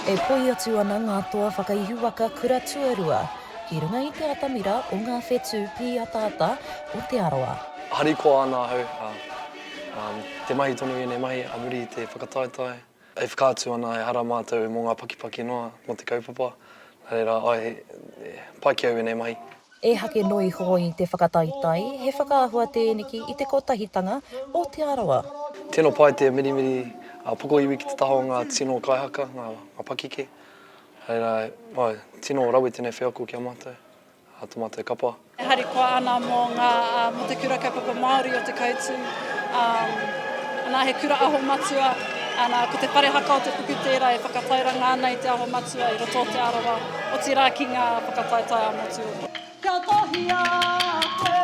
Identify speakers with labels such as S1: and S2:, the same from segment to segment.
S1: E poi atu ana ngā toa whakaihu waka kura tuarua i runga i te atamira o ngā whetū pīataata o Te Arawa. Harikoa ana
S2: ahau, ā, te mahi tonu i ēnei mahi a muri i te whakataetae. E whakaatu ana ehara mātou mō ngā pakipaki noa mō te kaupapa, nā reira, āe, e pai ki au ēnei mahi. E hake noa
S1: iho i te whakataetae, he whakaahua tēneki i te kotahitanga o Te Arawa. Tino pai te
S2: mirimiri pokoiwi ki te taha o ngā tino kaihaka, ngā pakike, nā reira, āe, tino rawe tēnei wheako ki a mātou. Ngā Tōmate Kapa. E harikoa ana
S3: mō ngā, mō te Kura Kaupapa Māori o Te Kautū. Nā, he Kura Aho Matua, nā, ko te whare haka o te puku tērā e whakatairanga ana i te Aho Matua i roto o Te Arawa, otirā ki ngā whakataetae ā-motu o. Ka kohia koe.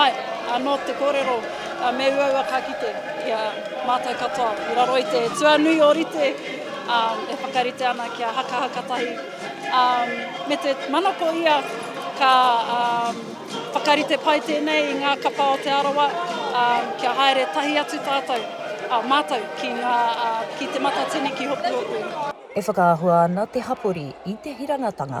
S3: Āe, anō te kōrero, ā, me uaua ka kite i a mātou katoa i raro i te tuanui ōrite, ā, e whakarite ana kia hakahaka tahi, ā, me te manako ia ka, ā, whakarite pai tēnei i ngā kapa o Te Arawa, ā, kia haere tahi atu tātou, ā, mātou ki ngā, ā, ki Te Matatini ki Hopuhopu. E whakaahua
S1: ana te hapori i te hirangatanga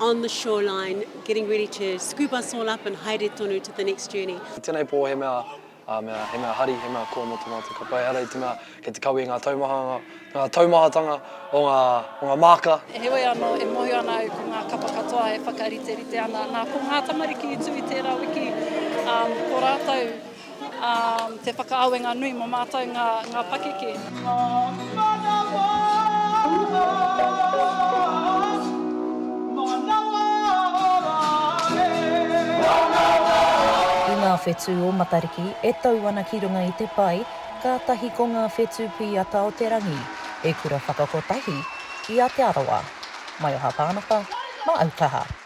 S4: on the shoreline getting ready to scoop us all up and haere tonu to the next journey. I tenei po he mea
S2: a mea he mea hari he mea koa mo to matou kapa ehara i te mea kei te kawe i nga taumahanga nga taumahatanga o nga o nga maaka. Heoi ano e
S3: mohio ana au ko nga kapa katoa e whakariterite ana na ko nga tamariki i tu i tera wiki um ko ratou Te whakaawenga nui mo matou nga pakeke. Nga manawa
S1: Manawa ora e. Manawa ora. I ngā whetū o Matariki e tau ana ki runga i te pae, kātahi ko ngā whetū pīata o te rangi, he kura whakakotahi i a Te Arawa. Maioha Pānapa, Māaukaha.